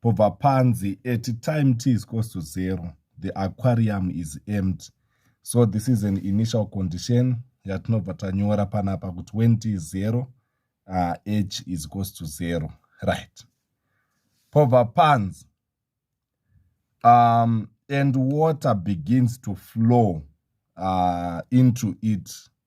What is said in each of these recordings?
pobva panzi at time t is close to zero the aquarium is empty so this is an initial condition yatinobva tanyora panapa kuti when t is zero uh, h is close to zero right pobva panzi um, and water begins to flow uh, into it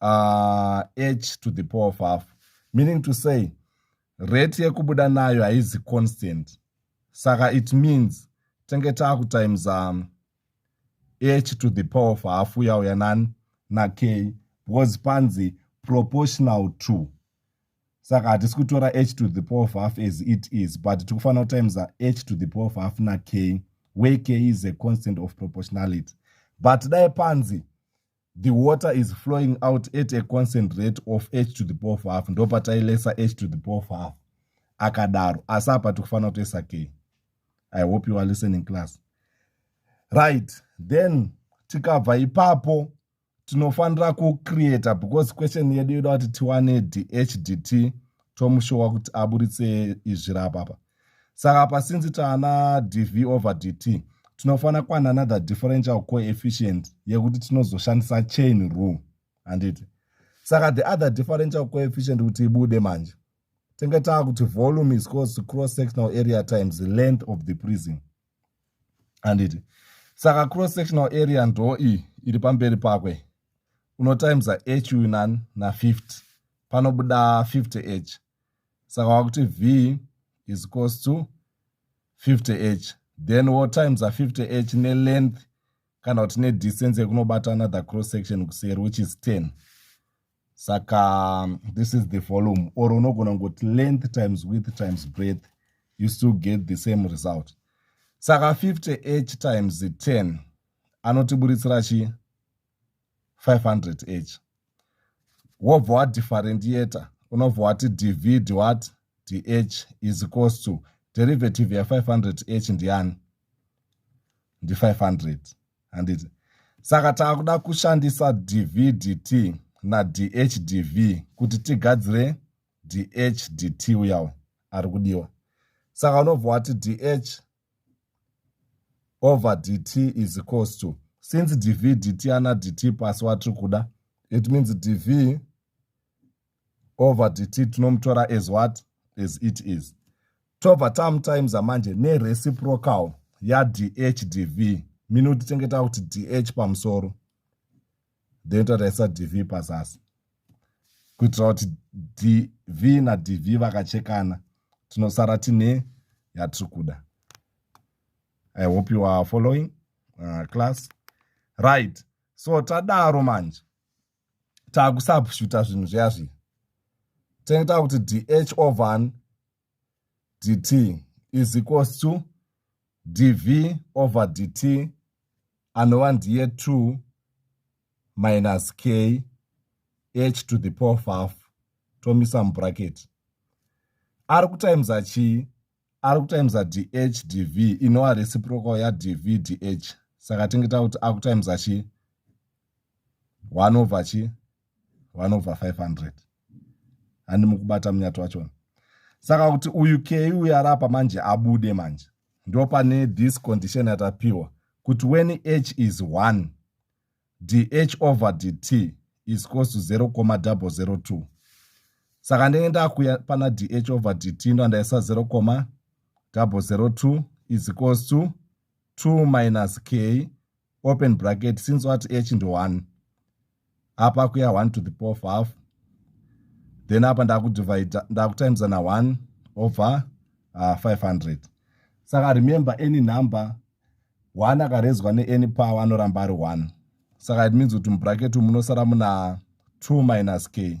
uh, h to the power of half meaning to say rate yekubuda nayo haizi constant saka it means tenge taakutimes um, h to the power of half uyauya nani nake because panzi proportional to saka hatisi kutora h to the power of half as it is but tiri kufanira kutimes h to the power of half nake where k is a constant of proportionality but dai panzi the water is flowing out at a constant rate of h to the power of half ndo patailesa h to the power of half akadaro asi apa tikufanira kutoisa k i hope you are listening class right then tikabva ipapo tinofanira kucreata because question yedu yoda kuti tiwane dhdt tomushowa kuti aburitse izvi rapapa saka apa since taana dv over dt tinofanira kwana another differential coefficient yekuti tinozoshandisa chain rule handiti saka the other differential coefficient kuti ibude manje tenge taa kuti volume is cause to cross sectional area times the length of the prison handiti saka cross sectional area ndo iyi iri pamberi pakwe unotimesa h uyu nani na50 panobuda 50 h saka wakuti v is equals to 50 h then wo times a 50 h nelength kana kuti nedistance yekunobata another cross section kuseri which is 10 saka um, this is the volume or unogona ngokuti length times width times breadth you still get the same result saka 50 h times 10 anotiburitsira chii 500 each wobva wadifferentiator unobva wati divide what dh is equals to derivative ya500 h ndiyani ndi500 handiti saka taakuda kushandisa dv dt nadh dv kuti tigadzire dh dt uyawo ari kudiwa saka unobva wati dh over dt is equals to since dv dt ana dt pasi watiri kuda it means dv over dt tinomutora as what as it is tobva tamutimes amanje nereciprocal yadh dv mino tichengeta kuti dh pamusoro then tataisa dv pazasi kuitira kuti dv nadv vakachekana tinosara tine yatiri kuda i hope you are following uh, class right so tadaro manje takusabshuta zvinhu zviya zviya tenge takuti dh ovan dt is equals to dv over dt anova ndiye 2 minus k h to the power of half tomisa mubracket ari kutimesa chii ari kutimesa dh dv inova reciprocal yadv dh saka tinge takuti akutimesa chii 1 over chii vanobva 500 handi mukubata munyati wachona saka kuti uyu kei uyu arapa manje abude manje ndo pane this condition yatapiwa kuti when h is 1 dh over dt is cos to 0 coma 002 saka ndenge ndakuya pana dh over dt ndo andaisa 0 coma 002 is cos to 2 minus k open bracket since wati h ndi one apa kuya one to the power of half then apa ndakudivide ndakutimesa na one over uh, five hundred saka remember any number one akarezwa neany power anoramba ari one saka it means kuti mubracket munosara muna two minus k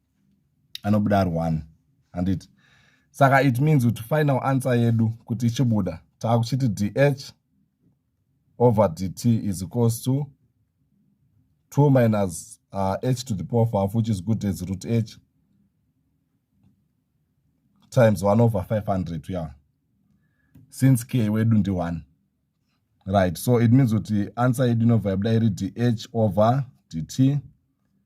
anobuda ari one handiti saka it means kuti final answer yedu kuti ichibuda taakuchiti dh over dt is equals to 2 minus uh, h to the power of half which is good as root h times 1 over 500 ya yeah. since k wedu ndi 1 right so it means kuti answer yedu inobva yabuda iri dh over dt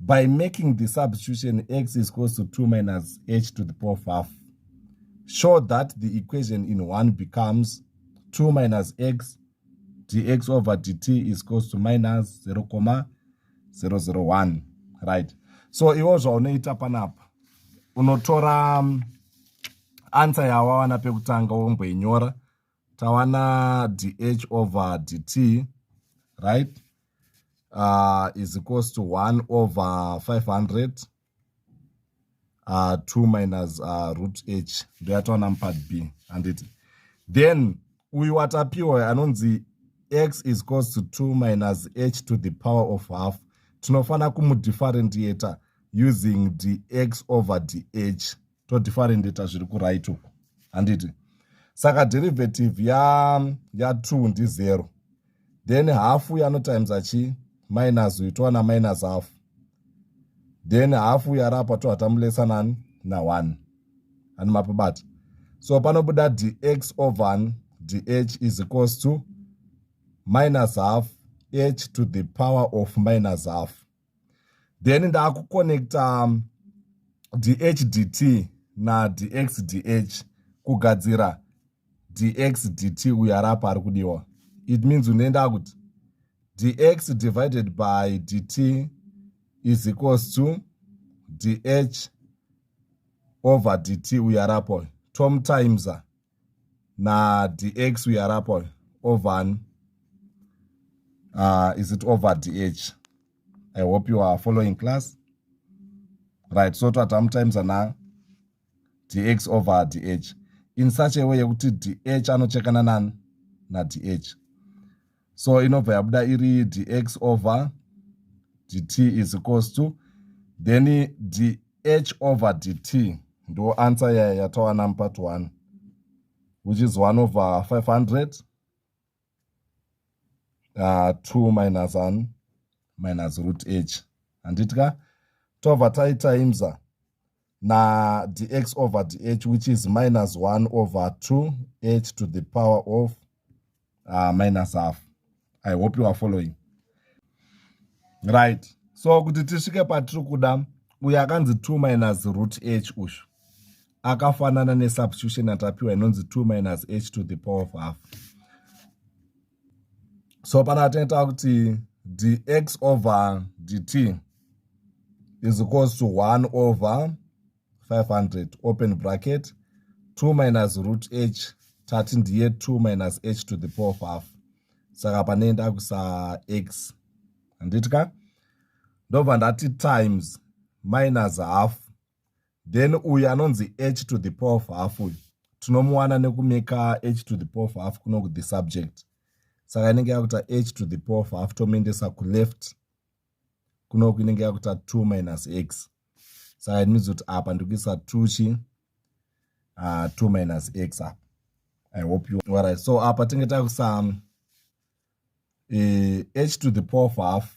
by making the substitution x is close to 2 minus h to the power of half show that the equation in 1 becomes 2 minus x dx over dt is close to minus 0 comma 001 right so iwo zvaunoita panapa unotora um, answer yawawana pekutanga womboinyora tawana dh over dt right uh, is equals to 1 over 500 uh, 2 minus uh, root h ndoyatawana mupart b handiti then uyu watapiwa anonzi x is equals to 2 minus h to the power of half tinofanira kumudifferentiator using dx over dh todifferendeta zviri kuright uku handiti saka derivative ya ya two ndi zero then hafu yanotimesa chii minus uyu towana minus hafu then hafu yarapa tohatamulesa nani na one ani mapabata so panobuda dx over dh is equals to minus half h to the power of minus half then ndakuconnecta um, dhdt nadxdh kugadzira dxdt uyo ari apa ari kudiwa it means unoenda kuti dx divided by dt is equals to dh over dt uyo ari apo tom times nadx uyo ari apa uyo ovani uh, ah, is it over dh i hope you are following class right so twatamutimes ana dx over dh in such a way yekuti dh anochekana nani nadh so inobva yabuda iri dx over dt is equals to then dh over dt ndo answer yaya yatawana mupart 1 which is 1 over 500 uh, 2 minus 1 minus root h handiti ka tobva taitimesa na dx over dh which is minus 1 over 2 h to the power of uh, minus half i hope you are following right so kuti tisvike patiri kuda uyo akanzi 2 minus root h uyu akafanana nesubstitution atapiwa inonzi 2 minus h to the power of half so pana tinoita kuti dx over dt is equals to 1 over 500 open bracket 2 minus root h tati ndiye 2 minus h to the power of half saka pane ndakuisa x handiti ka ndobva ndati times minus half then uyu anonzi h to the power of half uyu tinomuwana nekumeka h to the power of half kuno kuthe subject saka inenge yakuita h to the power of half tomuendesa kuleft kunoku inenge yakuita 2 minus x saka it means kuti apa ndikuisa 2 chi uh, ah, 2 minus x apa i hope you right so apa tinge takuisa um, eh, h to the power of half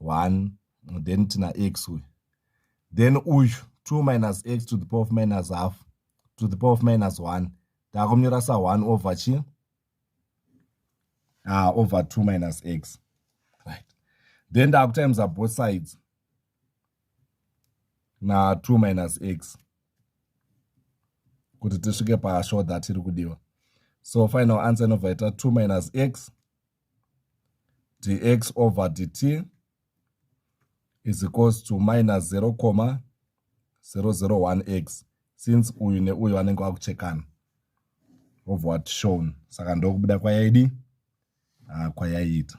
1 then tina x uyu then uyu 2 minus x to the power of minus half to the power of minus 1 taakumnyora sa 1 over chi ah, over 2 minus x right then taakutimesa both sides na 2 minus x kuti tisvike pashort that iri kudiwa so final answer inobva ita 2 minus x dx over dt is equals to minus 0 comma 001x since uyu neuyu anenge wakuchekana of what shown saka ndokubuda kwayaidi ah, kwayaita